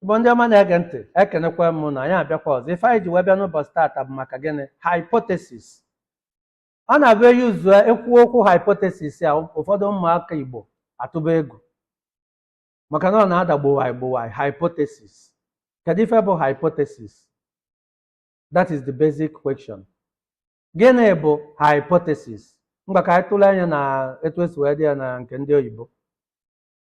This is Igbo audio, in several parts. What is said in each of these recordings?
Igbo ndị ọma na-ege ntị ekenekwa m unu anyị abịakwa ọzọ ife anyị ji wee bịa n'ụbọchị taata bụ maka gịnị hypothesis ọ na-abụ e yuzuo ekwu okwu hypothesis a ụfọdụ ụmụaka Igbo atụba egwu maka na ọ na-ada gbowaị gbowaị hypothesis kedu ife bụ hypothesis that is the basic question gịnị bụ hypothesis ngwa ka anyị tụlee anya na etu esi wee dee ya na nke ndị oyibo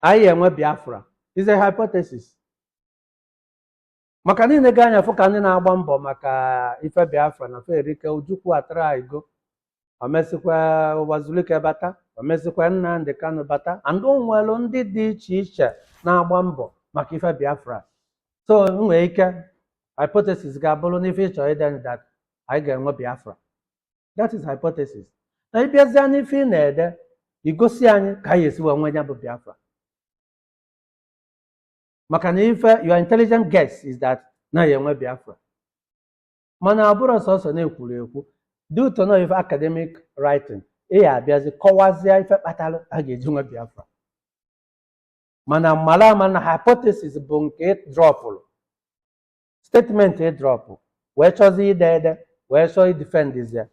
anyị ya-enwe biafra is a hypothesis maka na i lega anya fụ ka ndị na-agba mbọ maka ife biafra na ferike ojukwu atraigo omesịkwa uwazuruike bata omesịkwa nnamdi kanu bata and o nwere ndị dị iche iche na-agba mbọ maka ife biafra so nwee ike hypothesis gị abụrụ n'ife ịchọ ide that anyị ga-enwe biafra that is hypothesis na ị bịazịa n'ife ị na-ede i gosi anyị ka a ya-esi wee nwee ya bụ biafra maka na if your intelligent guess is that na a ya-enwe biafra mana ọ bụrọ sọsọ na-ekwuru ekwu due to na ife academic writing ị ya-abịazi kọwazie ife kpatara a ga-eji nwe biafra mana mara ama na hypothesis bụ nke drọpụrụ statement ị drọpụ wee chọzie ide ede wee chọọ idifendizia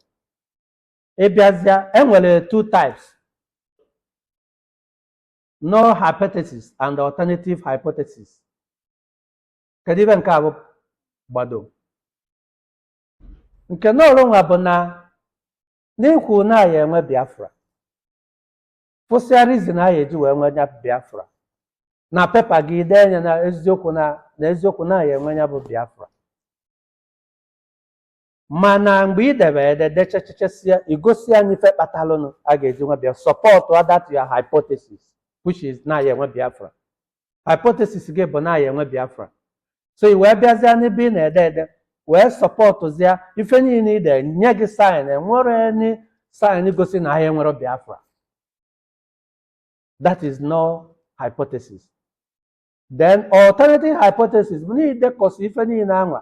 ị bịazịa e nwere two types null hypothesis and alternative hypothesis kedu ife nke a bụ gbado nke null nwa bụ na n'ikwu na a ya-enwe biafra fụsịa reason a ya-eji wee nwee ya bụ biafra na pepa gị dee nya na eziokwu na a ya-enwe ya bụ biafra mana mgbe ị debe ede dechechechesia i gosi anyị ife kpatalụnụ a ga-eji nwe biafra sọpọtụa that your hypothesis which is na a ya-enwe biafra hypothesis gị bụ na a ya-enwe biafra so i wee bịazịa n'ebe ị na-ede ede wee sọpọtụzịa ife niile i de nye gị sign enwerọ any sign gosi na a ya enwerọ biafra that is null hypothesis then alternative hypothesis bụ na i dekọsịa ife niile anwa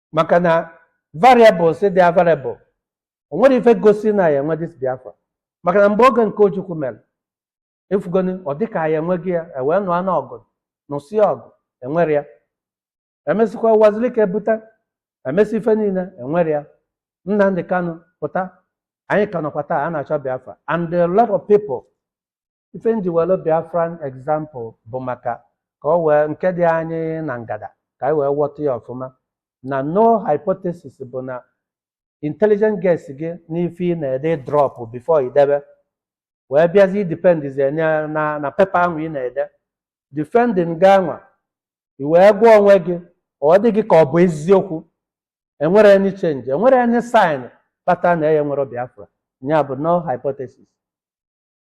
maka na variables dị available o nwerọ ife gosi na a ya-enwe this biafra maka na mgbe oge nke ojukwu mere ị fụgonị ọ dịka anyị enwego ya e wee nụọ na ọgụ nụsịa ọgụ enwerọ ya emesịkwa uwazuruike pụta emesị ife niile enwerọ ya nnamdi kanu pụta anyị ka nọkwa taa a na-achọ biafra and a lot of people ife m ji welu Biafran example bụ maka ka ọ wee nke dị anyị na ngada ka anyị wee ghọta ya ọfụma na null hypothesis bụ na intelligent guess gị n'ife ị na-ede drop before idebe wee bịazi idipendizie nye na na paper ahụ ị na-ede defending gị anwa i wee gwa onwe gị ọ dị gị ka ọ bụ eziokwu enwerọ any change enwerọ any sign kpata na ya nwere Biafra ya bụ null hypothesis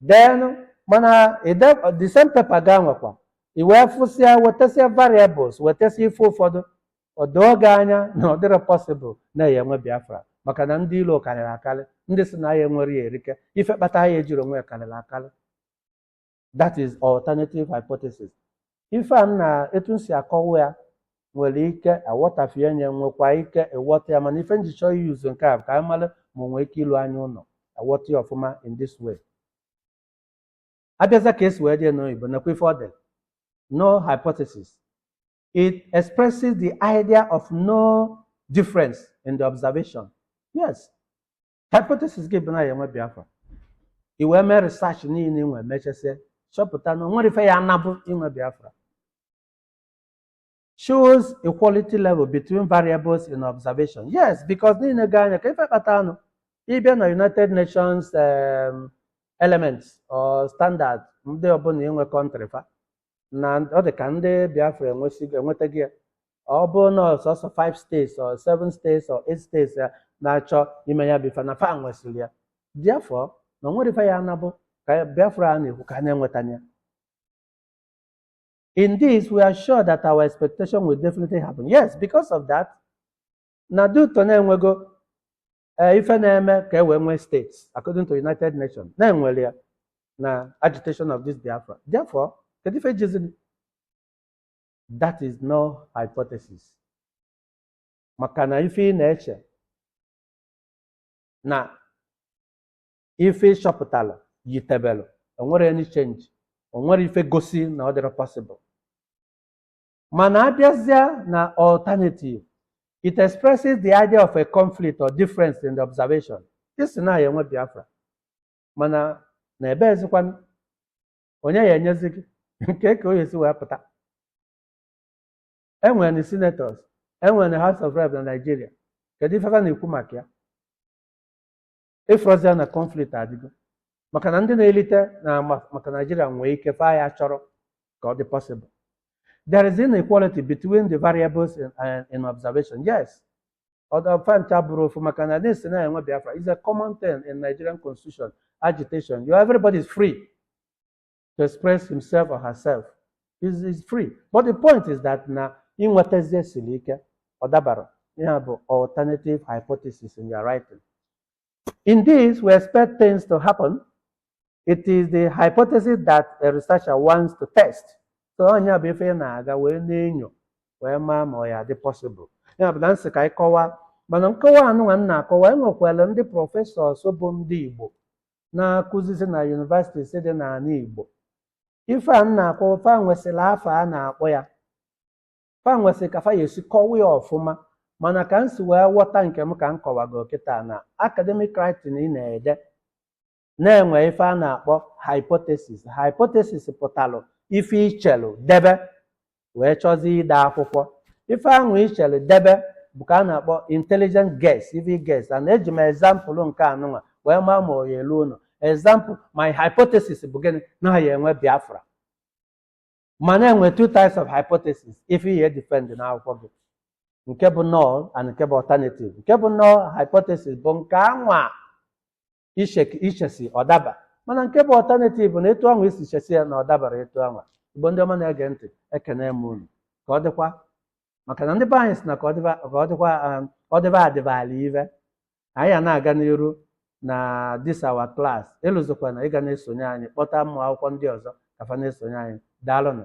then mana the same paper gị anwakwa i wee fụsịa wetasịa variables wetasịa ife ụfọdụ o doo gị anya na ọ dịrọ possible na a ya-enwe Biafra maka na ndị ilo karịrị akarị ndị sị na a ya-enwerọ ya erike ife kpata a ya-ejirọ nwee ya karịrị akarị that is alternative hypothesis ife a na etu m si akọwa ya nwere ike aghọtafie nya nwekwa ike ịghọta ya mana ife m ji chọọ iuse nke a bụ ka anyị mara ma o nwee ike ilu anya ụlọ aghọta ya ọfụma in this way a bịazịa ka e si wee dee n'oyibo nakwa ife ọ dere null hypothesis it expresses the idea of no difference in the observation yes hypothesis gị bụ na a ya-enwe Biafra i wee mee research niile i wee mechasịa chọpụta na o nwerọ ife ya anabụ inwe Biafra shows equality level between variables in observation yes because i lega anya ka ife kpata anụ ị bịa na united nations um, elements or standard ndị ọbụla inwe country fa na ọ dị ka ndị Biafra enwetago ya ọ bụ na ọ sọsọ 5 states or 7 states or 8 states ya na-achọ ime ya bifa na fa nwesịrị ya therefore na o nwerọ ife ya anabụ ka Biafra a na-ekwu ka a na-enweta ya In this, we are sure that our expectation will definitely happen. Yes, because of that, na due to na e nwego ee ife na-eme ka e wee nwee states according to united nations na e nwere ya na agitation of this Biafra therefore kedu ife jizini that is null hypothesis maka na ife ị na-eche na ife ị chọpụtara yitebelụ o nwerọ any change o nwerọ ife gosi na ọ dịrọ possible mana a bịazịa na alternative it expresses the idea of a conflict or difference in the observation ị sị na a ya-enwe Biafra mana na ebe ezikwanụ onye ya-enyezi gị kee ka ọ ya-esi wee pụta enwere senators enwere house of rep na Nigeria kedu ife fa na-ekwu maka ya ị fụrụzia na conflict adịgo maka na ndị na-elite na ma- maka naijiria nwee ike fa ya chọrọ ka ọ dị possible there is inequality between the variables in, uh, in observation yes ọ rọ fa ncha bụrụ ofu maka na this na a ya-enwe biafra is a common thing in nigerian constitution agitation you everybody is free to express himself or herself is is free but the point is that na inwetazi ya siri ike ọ dabara ihe a bụ alternative hypothesis in your writing in this we expect things to happen it is the hypothesis that a researcher wants to test so ọ nya bụ ife ị na-aga wee na-enyo wee maa ma ọ ya-adị possible ya bụ na m sị ka anyị kọwaa mana nkọwa anụnwa m na-akọwa enwekwara ndị prọfesọs bụ ndị Igbo na-akụzisi na yunivasitis dị n'ala Igbo ife a m na-akọwa fa nwesịrị afa a na-akpọ ya fa nwesịrị ka fa ya-esi kọwa ya ọfụma mana ka m si wee ghọta nke m ka m kọwago kịta na academic writing ị na-ede na-enwe ife a na-akpọ hypothesis hypothesis pụtalụ ife i chelu debe wee chọzie ide akwụkwọ ife ahụ ị chere debe bụ ka a na-akpọ intelligent guess ife ị guess and eji m example nke anụnwa wee maa ma ọ ya-elu ụlọ example my hypothesis bụ gịnị na a ya-enwe biafra mana e nwe two types of hypothesis ife i ya-edefend n'akwụkwọ gị nke bụ null and nke bụ alternative nke bụ null hypothesis bụ nke anwa i che- i chesi ọ daba mana nke bụ alternative na etu ahụ i si chesi ya na ọ dabara etu ahụ igbo ndị ọma na-ege ntị ekene m unu ka ọ dịkwa maka na ndị be anyị sị na ka ọ dịba adịba ala ive anyị a na-aga n'iru na this our class elozokwana ịga na-esonye anyị kpọta ụmụ akwụkwọ ndị ọzọ ka fa na-esonye anyị daalụnụ